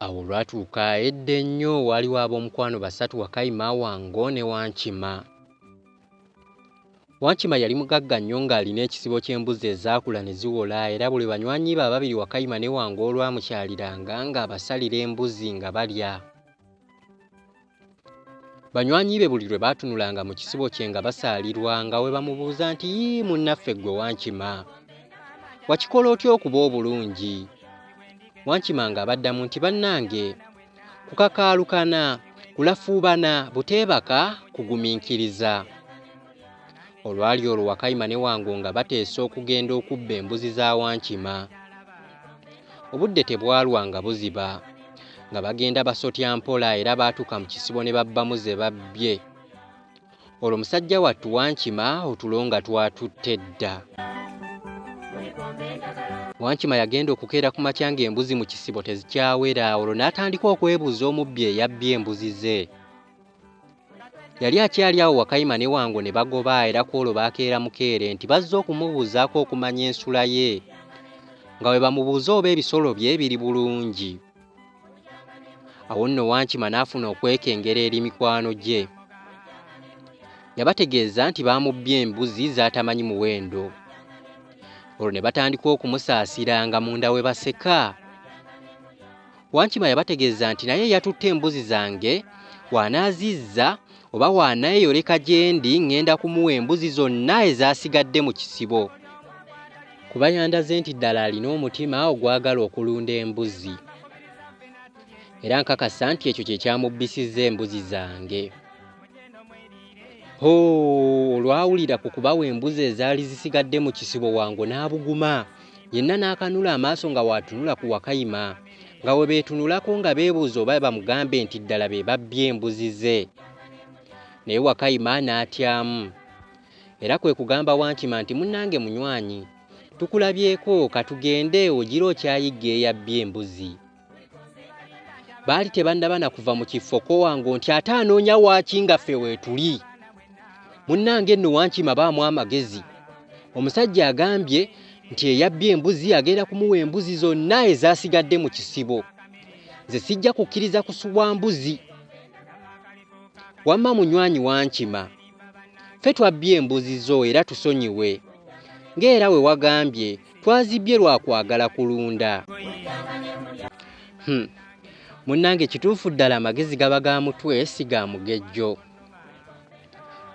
Awo olwatuuka edda ennyo waaliwo ab'omukwano basatu Wakayima, Wango ne Wankima. Wankima yali mugagga nnyo ng'alina ekisibo ky'embuzi ezaakula ne ziwola era buli banywanyi be ababiri Wakayima ne Wango olwamukyaliranga ng'abasalira embuzi nga balya. Banywanyi be buli lwe baatunulanga mu kisibo kye nga basaalirwa nga we bamubuuza nti yii munnaffe ggwe wankima wakikola otya okuba obulungi wankima ng'abaddamu nti bannange kukakaalukana kulafuubana buteebaka kugumiikiriza Olwali olwo Wakayima ne Wango nga bateesa okugenda okubba embuzi za Wankima. Obudde tebwalwa nga buziba. Nga bagenda basotya mpola era baatuuka mu kisibo ne babbamu ze babbye. Olwo musajja wattu Wankima otulo nga twatutte dda. Wankima yagenda okukeera ku makya ng'embuzi mu kisibo tezikyawera olwo n'atandika okwebuuza omubbi eyabbye embuzi ze. yali akyali awo wakayima ne wango ne bagoba era ku olwo baakeera mukeere nti bazze okumubuuzaako okumanya ensula ye nga bwe bamubuuza oba ebisolo bye biri bulungi awo nno wankima n'afuna okwekengera eri mikwano gye yabategeeza nti baamubbye embuzi z'atamanyi muwendo olwo ne batandika okumusaasira nga munda we baseka Wankima yabategeeza nti naye yatutte embuzi zange w'anaazizza oba w'anaeyoleka gyendi ŋŋenda kumuwa embuzi zonna ezaasigadde mu kisibo kuba yandaze nti ddala alina omutima ogwagala okulunda embuzi era nkakasa nti ekyo kye kyamubbisizza embuzi zange ho olwawulira ku kubawa embuzi ezaali zisigadde mu kisibo wango n'abuguma yenna n'akanula amaaso nga waatunula ku Wakayima nga we beetunulako nga beebuuza oba bamugambe nti ddala be babbye embuzi ze naye Wakayima n'atyamu era kwe kugamba Wankima nti munnange munywanyi tukulabyeko katugende ogira okyayigga eyabbye embuzi. baali tebannaba na kuva mu kifo kowange nti ate anoonya waaki nga ffe weetuli munnange nno wankima baamu amagezi omusajja agambye nti eyabbye embuzi agenda kumuwa embuzi zonna ezaasigadde mu kisibo nze sijja kukkiriza kusubwa mbuzi wamma munywanyi wankima ffe twabbye embuzi zo era tusonyiwe ng'era we wagambye Twazibbye lwa kwagala kulunda. Hmm. Munnange kituufu ddala amagezi gaba ga mutwe si ga mugejjo.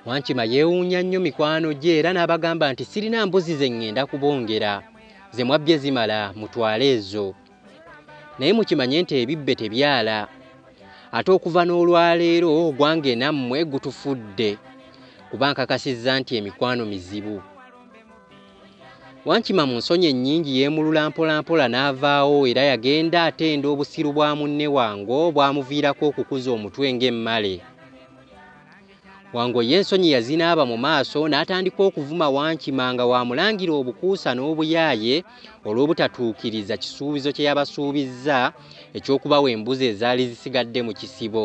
Wankima yeewuunya nnyo mikwano gye era n'abagamba nti sirina mbuzi ze ŋŋenda kubongera ze mwabbye zimala mutwale ezo naye mukimanye nti ebibbe tebyala ate okuva n'olwaleero ogwange nammwe gutufudde kuba nkakasizza nti emikwano mizibu Wankima mu nsonyi ennyingi yeemulula mpolampola n'avaawo era yagenda atenda obusiru bwa munne Wango obwamuviirako okukuza omutwe ng'emmale. Wango ye ensonyi yazinaaba mu maaso n'atandika okuvuma Wankima nga w'amulangira obukuusa n'obuyaaye olw'obutatuukiriza kisuubizo kye yabasuubizza eky'okubawa embuzi ezaali zisigadde mu kisibo.